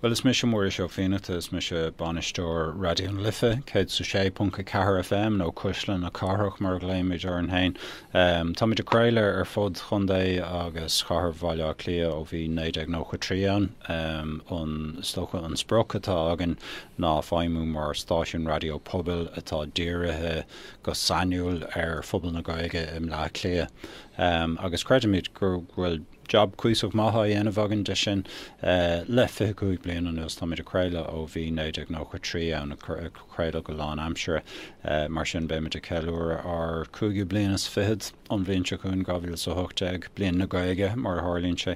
Bhuel, is mise Muiris Ó Fiannachta, is mise bainisteoir Raidió na Life, 106.4 FM nó Cuisle na Cathrach mar a ghlaoimid orainn féin. Táimid ag craoladh ar fud Chontae agus Chathair Bhaile Átha Cliath ó bhí 1993 ann. An, is dócha, an sprioc atá againn ná feidhmiú mar stáisiún raidió pobail atá dírithe go sainiúil ar phobal na Gaeilge i mBleá Cliath agus creidimid go bhfuil Jab cuíosach maith á dhéanamh againn de sin le fiche cúig bliain anuas. Táimid ag craoladh ó bhí 1993 ann, ag craoladh go lán aimsire. Mar sin beimid ag ceiliúradh ár cúigiú bliain is fichead an bhliain seo chugainn, 2018, Bliain na Gaeilge mar a tharlaíonn sé.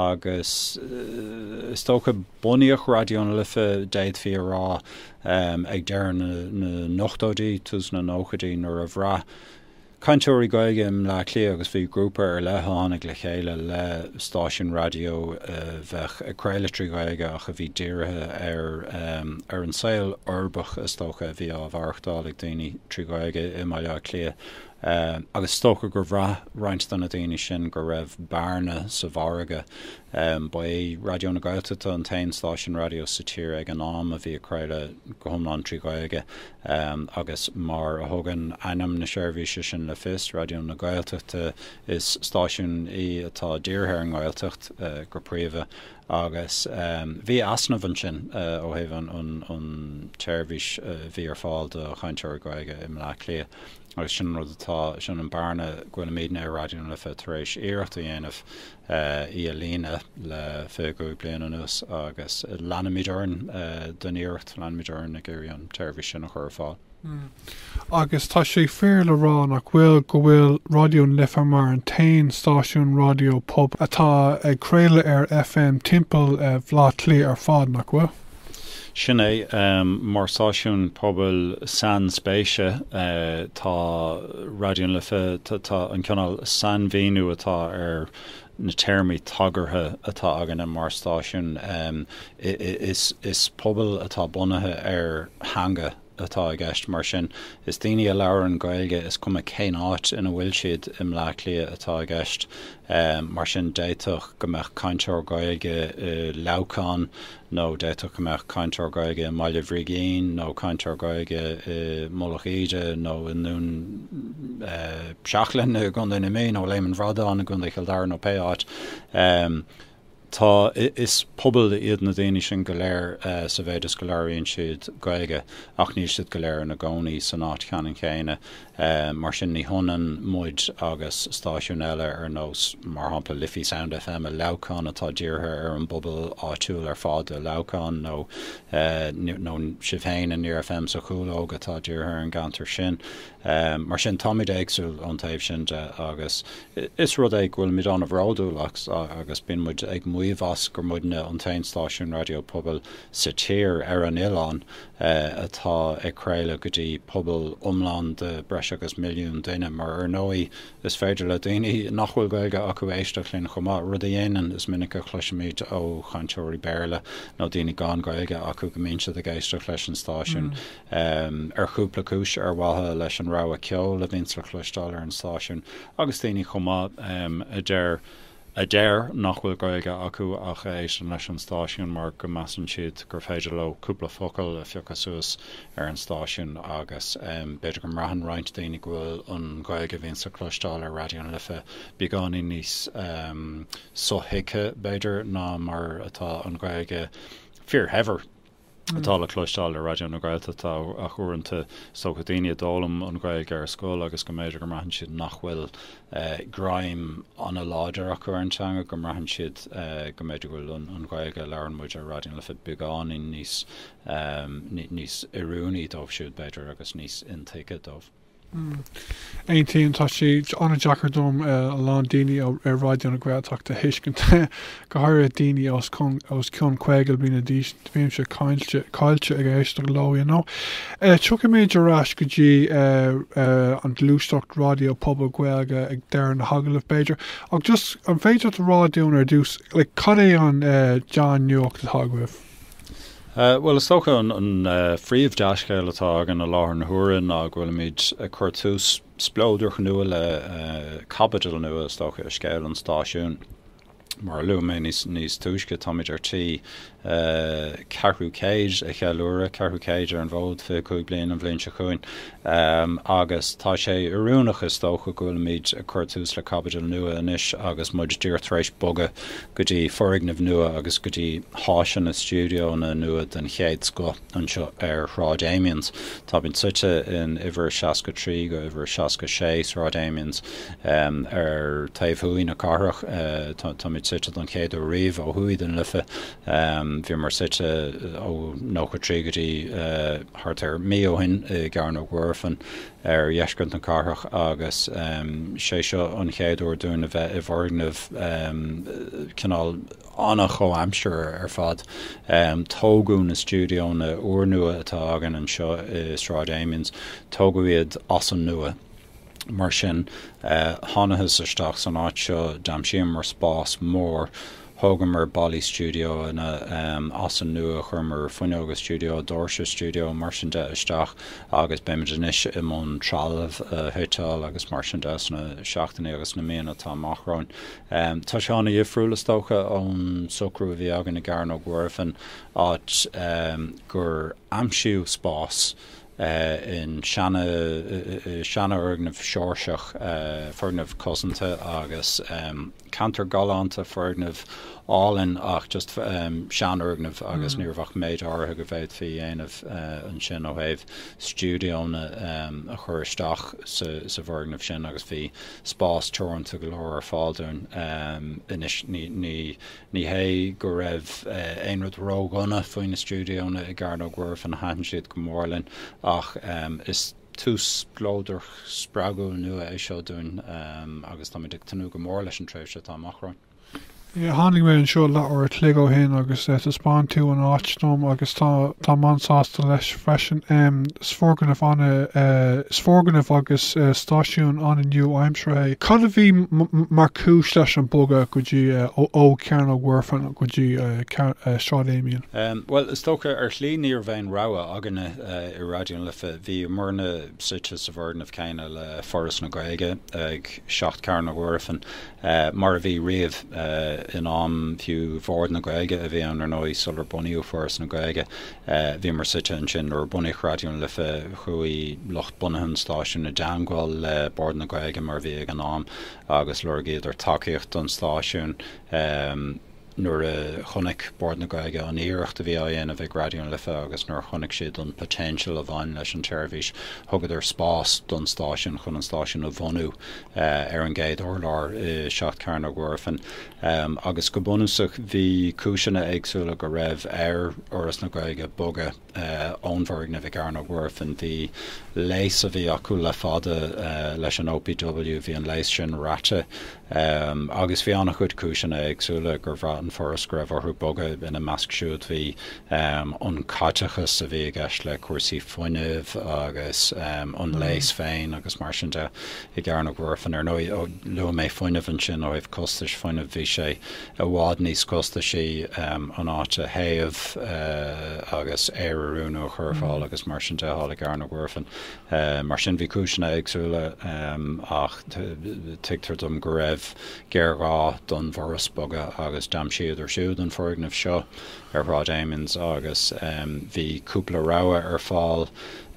Agus is dócha bunaíodh Raidió na Life, d'fhéadfaí a rá, ag deireadh na n-ochtóidí, tús na nóchaidí nuair a bhraith, cainteoirí Gaeilge i mBleá Cliath agus bhí grúpa ar leith a tháinig le chéile le stáisiún raidió a bheadh ag craoladh trí Ghaeilge ach a bhí dírithe ar ar an saol uirbeach is dócha a bhí á mhaireachtáil ag daoine trí Ghaeilge i mBaile Átha Cliath agus is dócha gur bhraith roinnt de na daoine sin go raibh bearna sa mhargadh. Ba é Raidió na Gaeltachta an t-aon stáisiún raidió sa tír ag an am a bhí ag craoladh go hiomlán trí Ghaeilge. agus mar a thugann ainm na seirbhíse sin le fios, Raidió na Gaeltachta, is stáisiún í atá dírithe ar an nGaeltacht go príomha agus bhí easnamh ansin ó thaobh an tseirbhís a bhí ar fáil do chainteoirí Gaeilge i mBleá Cliath agus sin an rud atá, sin an bearna go bhfuilimidne i Raidió na Life tar éis iarracht a dhéanamh í a líonadh le 25 bliain anuas agus leanfaimid orainn don iarracht, leanfaimid orainn ag iarraidh an tseirbhís sin a chur ar fáil. Agus tá sé fíor le rá, nach bhfuil, go bhfuil Raidió na Life mar an t-aon stáisiún raidió pobail atá ag craoladh ar FM timpeall Bhleá Cliath ar fad, nach bhfuil? Sin é. Mar stáisiún pobail sainspéise, tá Raidió na Life, tá an cineál sainmhíniú atá ar na téarmaí tagartha atá againne mar stáisiún, is pobal atá bunaithe ar theanga, atá i gceist, mar sin. Is daoine a labhrann Gaeilge is cuma cén áit ina bhfuil siad i mBleá Cliath atá i gceist. Mar sin, d'fhéadfadh go mbeadh cainteoir Gaeilge i Leamhcán nó d'fhéadfadh go mbeadh cainteoir Gaeilge i mBaile Brigín nó cainteoir Gaeilge i Mullach Íde nó i nDún Seachlainn i gContae na Mí nó Léim an Bhradáin i gContae Chill Dara nó pé áit. Tá, is pobal iad na daoine sin go léir sa mhéid is go labhraíonn siad Gaeilge ach níl siad go léir ina gcónaí san áit cheannann chéanna. Mar sin ní hionann muid agus stáisiúin eile ar nós, mar shampla, Liffey Sound FM i Leamhcán atá dírithe ar an bpobal áitiúil ar fad i Leamhcán nó nó sibh féin i Near FM sa Chúlóg atá dírithe ar an gceantar sin. Mar sin, táimid éagsúil ón taobh sin de agus is rud é go bhfuilimid an-bhródúil as agus bíonn muid ag maíomh as gur muidne an t-aon stáisiún raidió pobail sa tír, ar an oileán, atá ag craoladh go dtí pobal iomlán de breis agus milliún duine, mar ar ndóigh is féidir le daoine nach bhfuil Gaeilge acu éisteacht linn chomh maith, rud a dhéanann. Is minic a chloisimid ó chainteoirí Béarla nó daoine gan Gaeilge acu go mbíonn siad ag éisteacht leis an stáisiún. um, ar chúpla cúis, ar mhaithe leis an rogha ceoil a bhíonns le cloisteáil ar an stáisiún, agus daoine chomh maith, um, a deir, a deir nach bhfuil Gaeilge acu ach a éisteann leis an stáisiún mar go measann siad gur féidir leo cúpla focal a phiocadh suas ar an stáisiún agus, um, b'fhéidir go mbraitheann roinnt daoine go bhfuil an Ghaeilge a bhíonns le cloisteáil ar Raidió na Life beagáinín níos, um, so-thuigthe, b'fhéidir, ná mar atá an Ghaeilge fíor-shaibhir. atá le cloisteáil ar Raidió na Gaeltachta ach uaireanta is dócha, daoine a d'fhoghlaim an Ghaeilge ar scoil agus go mb'fhéidir go mbraitheann siad nach bhfuil greim an-láidir acu ar an teanga, go mbraitheann siad go mb'fhéidir go bhfuil an Ghaeilge a labhraíonn muid ar Raidió na Life beagáinín níos oiriúnaí dóibh siúd, b'fhéidir, agus níos intuigthe dóibh. Aontaím. Tá sé an-deacair dom a lán daoine ar Raidió na Gaeltachta a thuiscint, go háirithe daoine os cionn 50 bliana d'aois. Bímse caillte ag éisteacht leo, you know. Tiocfaimid ar ais go dtí an ghluaiseacht raidió pobail Gaeilge ag deireadh na hagallaimh, b'fhéidir. Ach just, an féidir leat a rá dúinn ar dtús, like, cad é an dea-nuacht atá agaibh? Bhuel, is dócha an phríomh dea-scéal atá againn i láthair na huaire ná go bhfuilimid ag cur tús spleodrach nua le caibidil nua, is dócha, i scéal an stáisiúin. Mar a luaigh mé níos túisce, táimid ar tí ceathrú céid a cheiliúradh, ceathrú céid ar an bhfód, 25 bliain an bhliain seo chugainn. Um, agus tá sé oiriúnach, is dócha, go bhfuilimid ag cur tús le caibidil nua anois agus muid díreach tar éis bogadh go dtí foirgneamh nua agus go dtí háiseanna stiúideónna nua den chéad scoth anseo ar Shráid Amiens. Táimid suite in uimhir 63 go uimhir 66 Sráid Amiens, um, ar taobh thuaidh na cathrach. Táimid suite don chéad uair riamh ó thuaidh den Life. Um, bhíomar suite ó 93 go dtí, uh. thart ar mhí ó shin i gCearnóg Mhuirfean ar dheisceart na cathrach agus sé seo an chéad uair dúinn a bheith i bhfoirgneamh cineál an-chomhaimseartha ar fad. Tógadh na stiúideonna úrnua atá againn anseo i Sráid Amiens, tógadh iad as an nua. Mar sin, thánathas isteach san áit seo, d'aimsíomar spás mór, thógamar ballaí stiúideo ann as an nua, chuireamar fuinneoga stiúideo, doirse stiúideo, mar sin de, isteach agus beimid anois i mbun trealamh a shuiteáil agus mar sin de sna seachtainí agus sna míonna atá amach romhainn. Tá sé an-dhifriúil, is dócha, ón socrú a bhí againn i gCearnóg Mhuirfean, áit gur aimsíodh spás, i seanfhoirgneamh Seoirseach, foirgneamh cosanta agus ceantar galánta, foirgneamh álainn ach just seanfhoirgneamh agus ní raibh ach méid áirithe go bhféadfaí dhéanamh ansin ó thaobh stiúideonna a chur isteach sa bhfoirgneamh sin agus bhí spás teoranta go leor ar fáil dúinn anois. Ní hé go raibh aon rud ródhona faoi na stiúideónna i gCearnóg Mhuirfean, thaitin siad go mór linn, ach is tús spleodrach spreagúil nua é seo dúinn agus táimid ag tnúth go mór leis an tréimhse atá amach romhainn. Tháinig mé anseo leathuair a chloig ó shin agus thaispeáin tú an áit dom agus táim an-sásta leis freisin. Is foirgneamh a Is foirgneamh agus stáisiún an-nua-aimseartha é. Cad a bhí mar chúis leis an mbogadh go dtí ó Chearnóg Mhuirfean go dtí Sráid Amiens? Bhuel, is dócha, ar shlí ní raibh aon rogha againne i Raidió na Life. Bhíomarna suite sa bhfoirgneamh céanna le Foras na Gaeilge, ag 7 Cearnóg Mhuirfean, mar a bhí riamh, in am fiú Bhord na Gaeilge, a bhí ann, ar ndóigh, sular bunaíodh Foras na Gaeilge. Bhíomar suite ansin nuair a bunaíodh Raidió na Life. Chuaigh lucht bunaithe an stáisiúin i dteangmháil le Bord na Gaeilge, mar a bhí ag an am, agus lorgaíodar tacaíocht don stáisiún. Nuair a chonaic Bord na Gaeilge an iarracht a bhí á dhéanamh ag Raidió na Life agus nuair a chonaic siad an potential a bhain leis an tseirbhís, thugadar spás don stáisiún chun an stáisiún a bhunú ar an gcéad urlár i Seacht Cearnóg Mhuirfean. agus go bunúsach bhí cúiseanna éagsúla go raibh ar Fhoras na Gaeilge bogadh ón bhfoirgneamh i gCearnóg Mhuirfean. Bhí lease a bhí acu le fada leis an OPW, bhí an lease sin rite agus bhí an-chuid cúiseanna éagsúla gur bhraith an Foras go raibh orthu bogadh, ina measc siúd bhí an caiteachas a bhí i gceist le cúrsaí fuinnimh agus an lease féin agus mar sin de. i gCearnóg Mhuirfean. Ar ndóigh, ó luaigh mé fuinneamh ansin, ó thaobh costais fuinnimh, bhí sé i bhfad níos costaisí an áit a théamh agus aer a oiriúnú, a chur ar fáil agus mar sin de thall i gCearnóg Mhuirfean. Mar sin bhí cúiseanna éagsúla ach tuigtear dom go raibh géarghá don bhforas bogadh agus d'aimsíodar siúd an foirgneamh seo. ar Shráid Amiens agus bhí cúpla rogha ar fáil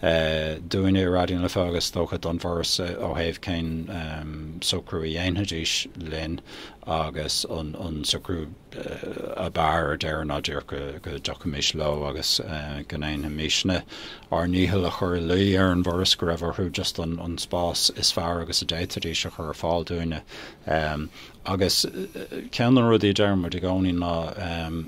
dúinne i Raidió na Life agus is dócha don bhForas ó thaobh cén socrú a dhéanfaidís linn agus an socrú ab fhearr ar deireadh ná díreach go dtiocfaimis leo agus go ndéanfaimisne ár ndícheall a chur i luí ar an bhForas go raibh orthu just an spás is fearr agus a d'fhéadfaidís a chur ar fáil dúinne. Agus ceann de na rudaí a deireann muid i gcónaí ná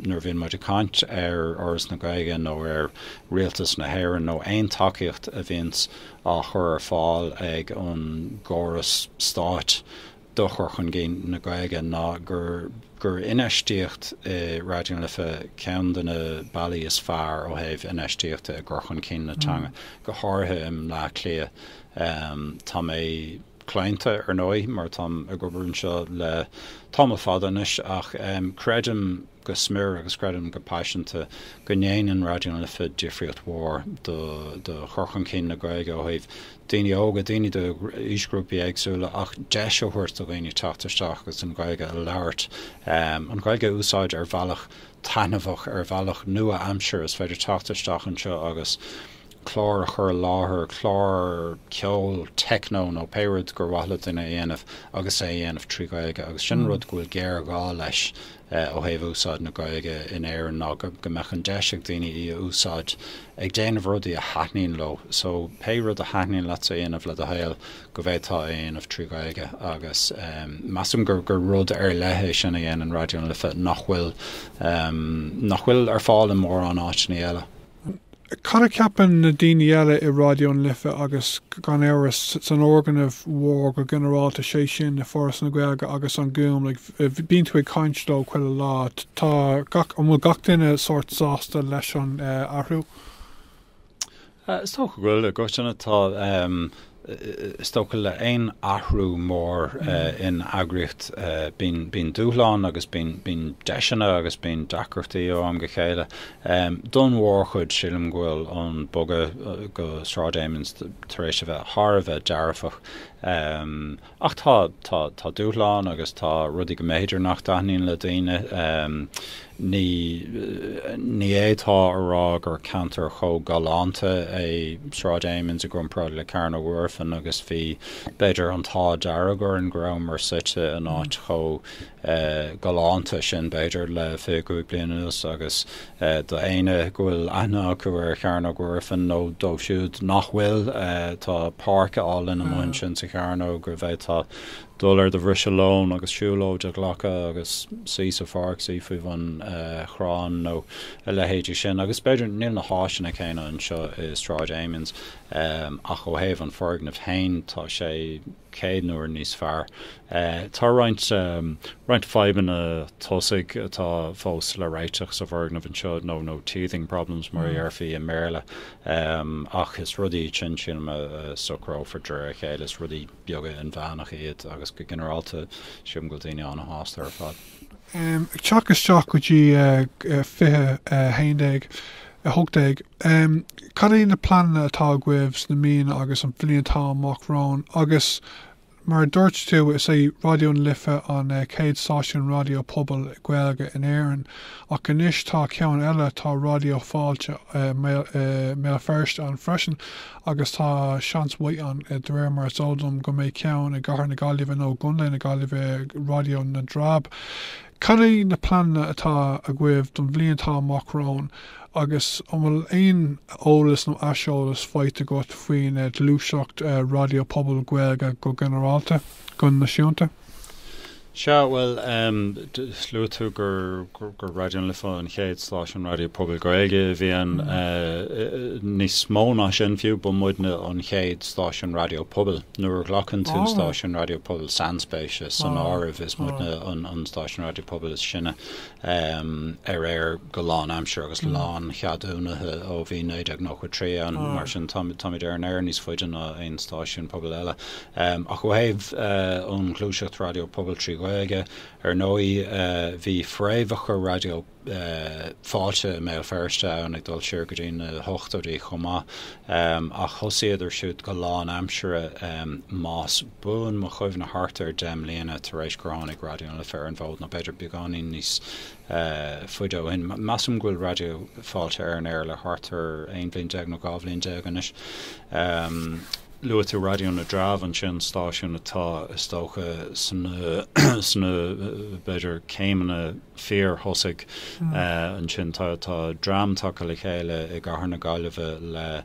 nuair a bhíonn muid ag caint ar Fhoras na Gaeilge nó ar Rialtas na hÉireann nó aon tacaíocht a bhíonns á chur ar fáil ag an gcóras stáit do chur chun cinn na Gaeilge ná gur infheistíocht i Raidió na Life ceann de na bealaí is fearr ó thaobh infheistíochta i gcur chun cinn na teanga, go háirithe i mBleá Cliath. Tá mé. claonta, ar ndóigh, mar táim ag obair anseo le tamall fada anois, ach creidim go smior agus creidim go paiseanta go ndéanann Raidió na Life difríocht mhór do chur chun cinn na Gaeilge ó thaobh daoine óga, daoine d'aoisghrúpaí éagsúla, ach deis a thabhairt do dhaoine teacht isteach agus an Ghaeilge a labhairt, an Ghaeilge a úsáid ar bhealach taitneamhach, ar bhealach nua-aimsire. Is féidir teacht isteach anseo agus. clár a chur i láthair, clár ceoil, techno nó pé rud gur mhaith le duine a dhéanamh agus é a dhéanamh trí Ghaeilge agus sin an rud go bhfuil géarghá leis ó thaobh úsáid na Gaeilge in Éirinn ná go mbeadh an deis ag daoine í a úsáid ag déanamh rudaí a thaitníonn leo so pé rud a thaitníonn leatsa a dhéanamh le do shaol go bhféadfá é a dhéanamh trí Ghaeilge agus measaim gur rud ar leith é sin a dhéanann Raidió na Life nach bhfuil nach bhfuil ar fáil i mórán áiteannaí eile. Cad a cheapann na daoine eile i Raidió na Life agus, gan amhras, san fhoirgneamh mhór go ginearálta, sé sin, i Foras na Gaeilge agus An Gúm? Like, bíonn tú ag caint leo chuile lá. Tá gach, an bhfuil gach duine sórt sásta leis an athrú? Is dócha go bhfuil, i gcoitinne tá. Is dócha le haon athrú mór in eagraíocht bíonn dúshláin agus bíonn deiseanna agus bíonn deacrachtaí ó am go chéile. Don mhórchuid sílim go bhfuil an bogadh go Sráid Amiens tar éis a bheith thar a bheith dearfach. Ach tá, tá, tá dúshláin agus tá rudaí go mb'fhéidir nach dtaitníonn le daoine. Ní, ní fhéadfá a rá gur ceantar chomh galánta í Sráid Amiens i gcomparáid le Cearnóg Mhuirfean agus bhí b'fhéidir an t-ádh dearg orainn go rabhamar suite in áit chomh galánta sin, b'fhéidir, le fiche a cúig bliain anuas agus do éinne go bhfuil aithne acu ar Chearnóg Mhuirfean nó dóibh siúd nach bhfuil, tá páirc álainn amuigh ansin sa Chearnóg go bhféadfá dul ar do bhriseadh lóin agus siúlóid a ghlacadh agus suí sa pháirc, suí faoi bhun chrainn nó a leithéidí sin agus b'fhéidir, níl na háiseanna céanna anseo i Sráid Amiens ach ó thaobh an foirgnimh féin, tá sé. 100 n-uair níos fearr. Tá roinnt roinnt fadhbanna tosaigh atá fós le réiteach sa bhfoirgneamh anseo nó nó teething problems mar a dhéarfaí i mBéarla ach is rudaí iad sin sílim a socrófar de réir a chéile. Is rudaí beaga inmheánacha iad agus go ginearálta sílim go bhfuil daoine an-shásta ar fad. Ag teacht isteach go dtí 20 18. Cad iad na pleananna atá agaibh sna míonna agus an bhliain atá amach romhainn agus, mar a dúirt tú, is é Raidió na Life an chéad stáisiún raidió pobail Gaeilge in Éirinn ach anois tá ceann eile, tá Raidió Fáilte i mBéal Feirste ann freisin agus tá seans mhaith ann, de réir mar is eol dom, go mbeidh ceann i gcathair na Gaillimhe nó i gcontae na Gaillimhe, Raidió na dTreabh. Cad é na pleananna atá agaibh don bhliain atá amach romhainn agus an bhfuil aon eolas nó aiseolas faighte agat faoin ghluaiseacht raidió pobail Gaeilge go ginearálta, go náisiúnta? Sea, bhuel, luaigh tú gur Raidió na Life an chéad stáisiún raidió pobail Gaeilge a bhí ann. Níos mó ná sin fiú, ba muidne an chéad stáisiún raidió pobail. Nuair a ghlacann tú stáisiún raidió pobail sainspéise san áireamh, is muidne an stáisiún raidió pobail is sine ar aer go lánaimsire agus láncheadúnaithe ó bhí 1993 ann. Mar sin, táimid ar an aer níos faide ná aon stáisiún pobail eile. Ach ó thaobh an ghluaiseacht raidió pobail trí Ghaeilge, ar ndóigh, bhí fréamhacha raidió. Fáilte i mBéal Feirste ann ag dul siar go dtí na hochtóidí chomh maith ach thosaíodar siúd go lánaimsire más buan mo chuimhne thart ar deich mbliana tar éis gur tháinig Raidió na Life ar an bhfód nó b'fhéidir beagáinín níos faide ó shin. Measaim go bhfuil Raidió Fáilte ar an aer le thart ar aon bhliain déag nó dhá bhliain déag anois. Luaigh tú Raidió na dTreabh ansin, stáisiún atá is dócha sa sna b'fhéidir céimeanna, fíorthosaigh. Ansin tá dream tagtha le chéile i gcathair na Gaillimhe le,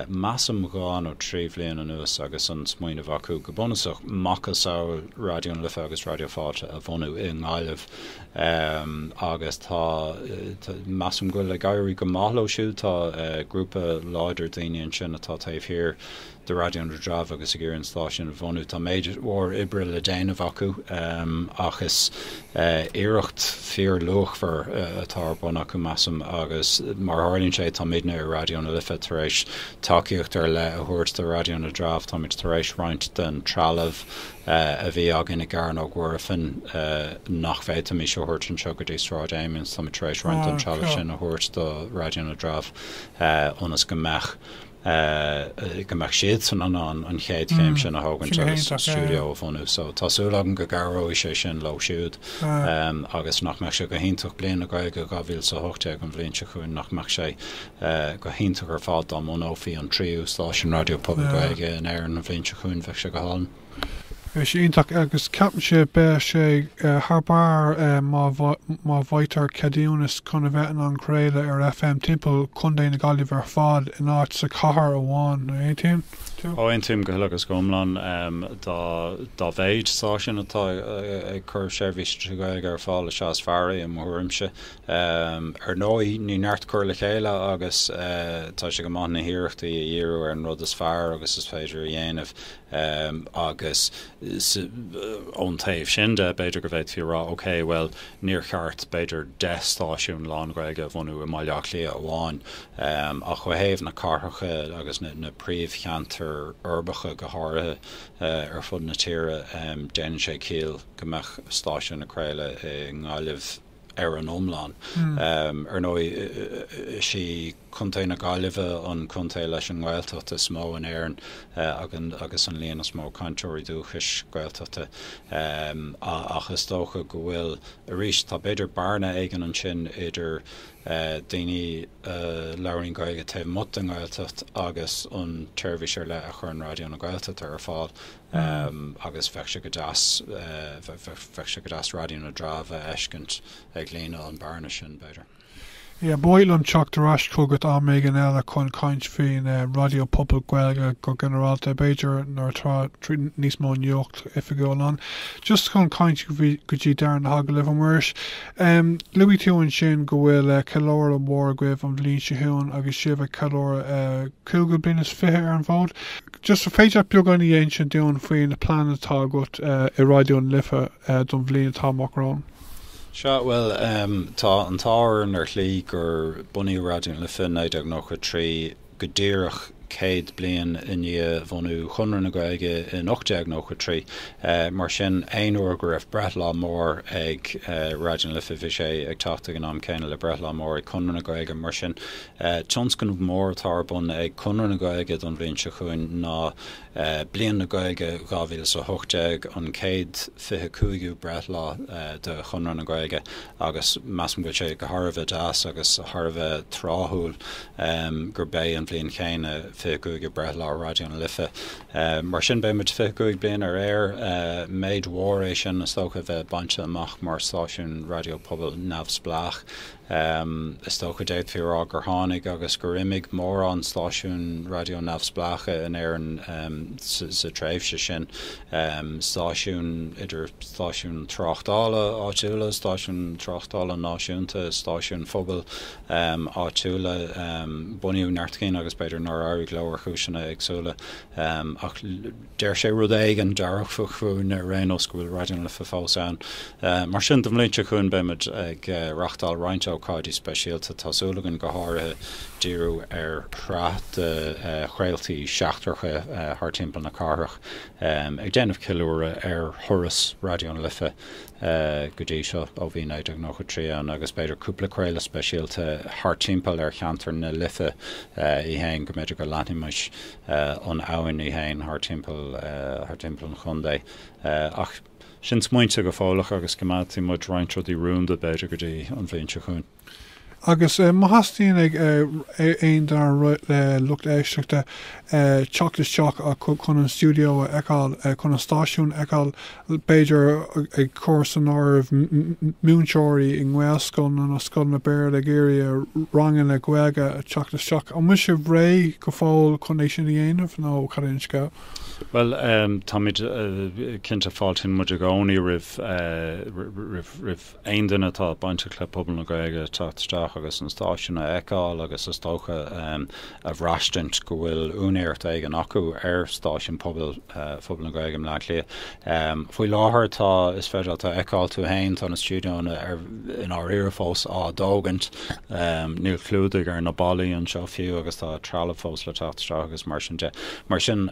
measaim, dhá nó trí bhliain anuas agus an smaoineamh acu go bunúsach macasamhail Raidió na Life agus Raidió Fáilte a bhunú i nGaillimh agus tá, measaim, go bhfuil ag éirí go maith leo siúd. Tá grúpa láidir daoine ansin atá taobh thiar do Raidió na dTreabh agus ag iarraidh an stáisiún a bhunú. Tá méid mhór oibre le déanamh acu ach is iarracht fíorluachmhar atá ar bun acu, measaim, agus mar a tharlaíonn sé táimidne i Raidió na Life tar éis tacaíocht ar leith a thabhairt do Raidió na dTreabh. Táimid tar éis roinnt den trealamh a bhí againn i gCearnóg Mhuirfean nach bhféadfaimis a thabhairt anseo go dtí Sráid Amiens, táimid tar éis roinnt den trealamh sin a thabhairt do Raidió na dTreabh ionas go mbeadh ea go mbeadh siadsan in ann an chéad chéim sin a thógaint agus stiúideo a bhunú. So tá súil agam go gcabhróidh sé sin leo siúd agus nach mbeadh sé go hiontach, Bliain na Gaeilge 2018 an bhliain seo chugainn, nach mbeadh sé go hiontach ar fad dá mbunófaí an tríú stáisiún raidió pobail Gaeilge in Éirinn an bhliain seo chugainn, bheadh sé go hálainn. Bhí sé iontach agus ceapaimse beidh sé thar barr má bhfaightear ceadúnas chun a bheith in ann craoladh ar FM timpeall Chontae na Gaillimhe ar fad in áit sa chathair amháin, an aontaíonn tú? Ó aontaím go huile agus go hiomlán. Dá mhéid stáisiún atá ag cur seirbhíse trí Ghaeilge ar fáil is ea is fearr é i mo thuairimse. Ar ndóigh ní neart cur le chéile agus tá sé go maith na hiarrachtaí a dhíriú ar an rud is fearr agus is féidir a dhéanamh. Um, agus s', ón taobh sin de, b'fhéidir go bhféadfaí a rá, OK, bhuel, níor cheart, b'fhéidir, deich stáisiún lán-Ghaeilge a bhunú i mBaile Átha Cliath amháin, um, ach cinnte ó thaobh na cathracha agus na, na príomhcheantair uirbeacha go háirithe, uh, ar fud na tíre, um, déanann sé ciall go mbeadh stáisiún ag craoladh i nGaillimh, Ar an iomlán, ar ndóigh, is í Contae na Gaillimhe an contae leis an nGaeltacht is mó in Éirinn agus an líon is mó cainteoirí dúchais Gaeltachta, ach is dócha go bhfuil, arís, tá b'fhéidir bearna éigin ansin idir daoine a labhraíonn Gaeilge taobh amuigh den nGaeltacht agus an tseirbhís ar leith a chuireann Raidió na Gaeltachta ar fáil. agus bheadh sé go deas, bheadh sé go deas Raidió na dTreabh a fheiscint ag líonadh an bearna sin, b'fhéidir. Ia, ba mhaith liom teacht ar ais chugat am éigin eile chun caint faoin Raidió Pobail Gaeilge go ginearálta, b'fhéidir, nuair atá níos mó nuacht oifigiúil ann, just chun teacht go dtí deireadh na hagallaimh a Mhuiris. Luaigh tú ansin go bhfuil ceiliúradh mhór agaibh an bhliain seo chugainn agus sibh ag ceiliúradh cúigiú bliain is fiche ar an bhfód. Just an féidir beagán a dh'insint dúinn faoi na pleananna atá agat i Raidió na Life don bhliain atá amach romhainn. Sea, bhuel, tá an t-ádh orainn ar shlí gur bunaíodh Raidió na Life i 1993 go díreach céad bliain i ndiaidh bhunú Chonradh na Gaeilge in 1893. Mar sin, aon uair go raibh breithlá mór ag Raidió na Life, bhí sé ag teacht ag an am céanna le breithlá mór ag Conradh na Gaeilge. Mar sin, Tionscnamh mór atá ar bun ag Conradh na Gaeilge don bhliain seo chugainn ná Bliain na Gaeilge 2018, an céad fiche cúigiú breithlá de Chonradh na Gaeilge agus measaim go bhfuil sé go thar a bheith deas agus thar a bheith tráthúil gurb é an bhliain chéanna fiche cúigiú breithlá Raidió na Life. Mar sin beidh muid fiche cúig bliana ar aer, méid mór é sin is dócha a bheith bainte amach mar stáisiún raidió pobail neamhspleách. Um, is dócha, d'fhéadfaí a rá gur tháinig agus gur imigh mórán stáisiúin raidió neamhspleácha in Éirinn, um, sa, sa tréimhse sin. Um, stáisiúin, idir stáisiúin tráchtála áitiúla, stáisiúin tráchtála náisiúnta, stáisiúin phobail, um, áitiúla, um, bunaíodh neart cinn agus b'fhéidir nár éirigh leo ar chúiseanna éagsúla, um, ach, Deir sé rud éigean dearfach fúinn ar aon nós, go bhfuil Raidió na Life fós ann. Mar sin don bhliain seo chugainn beimid ag reáchtáil roinnt ócáidí speisialta. Tá súil againn go háirithe díriú ar shraith de chraoltaí seachtracha thar timpeall na cathrach ag déanamh ceiliúradh ar thuras Raidió na Life go dtí seo ó bhí 1993 ann agus b'fhéidir cúpla craoladh speisialta thar timpeall ar cheantar na Life í fhéin go mb'fhéidir go leanfaimid an abhainn í fhéin thar timpeall, thar timpeall an chontae. Ach sin smaointe go fóill ach agus coimeádfaidh muid roinnt rudaí rúnda b'fhéidir go dtí an bhliain seo chugainn. Agus má theastaíonn ó aon dár lucht éisteachta teacht isteach chun an stiúideo a fheiceáil, chun an stáisiún a fheiceáil, b'fhéidir ag cur san áireamh múinteoirí i nGaelscoileanna nó scoileanna Béarla ag iarraidh a ranganna Gaeilge teacht isteach. An bhfuil sibh réidh go fóill chun é sin a dhéanamh nó cad é an scéal? Bhuel, táimid, cinnte, fáiltíonn muid i gcónaí roimh aon duine atá bainteach le pobal na Gaeilge teacht isteach agus an stáisiún a fheiceáil agus is dócha a bhraistint go bhfuil úinéireacht éigin acu ar stáisiún pobail phobal na Gaeilge i mBleá Cliath. Faoi láthair tá, is féidir leat a fheiceáil tú fhéin, tá na stiúideoanna i ndáiríre fós á dtógaint. Níl clúdaigh ar na ballaí anseo fiú agus tá trealamh fós le teacht isteach agus mar sin de. Mar sin,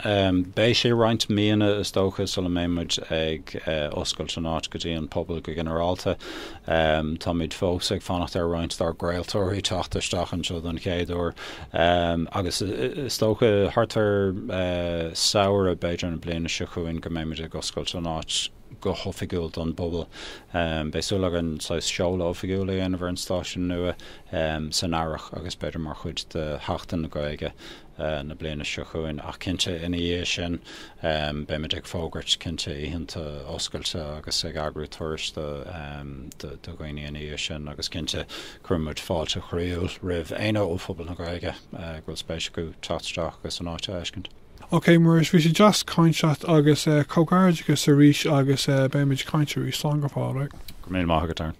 beidh sé roinnt míonna, is dócha, sula mbeidh muid ag oscailt an áit go dtí an bpobal go ginearálta. Táimid fós ag fanacht ar roinnt dár gcraoltóirí teacht isteach anseo don chéad uair agus is dócha thart ar Samhradh, b'fhéidir, na bliana seo chugainn go mbeidh muid ag oscailt an áit go hoifigiúil don bpobal. Bheadh súil againn saghas seoladh oifigiúil a dhéanamh ar an stáisiún nua san Earrach agus b'fhéidir mar chuid de Sheachtain na Gaeilge. na bliana seo chugainn. Ach cinnte, ina dhiaidh sin, beimid ag fógairt, cinnte, oícheanta oscailte agus ag eagrú turais do dhaoine ina dhiaidh sin agus, cinnte, cuireann muid fáilte chroíúil roimh éinne ó phobal na Gaeilge go bhfuil spéis acu teacht isteach agus an áit a fheiscint. Ok, Muiris, bhí sé deas caint leat agus comhghairdeachas arís agus beidh muid ag caint arís. Slán go fóill, right? Go raibh míle maith agat, Darren.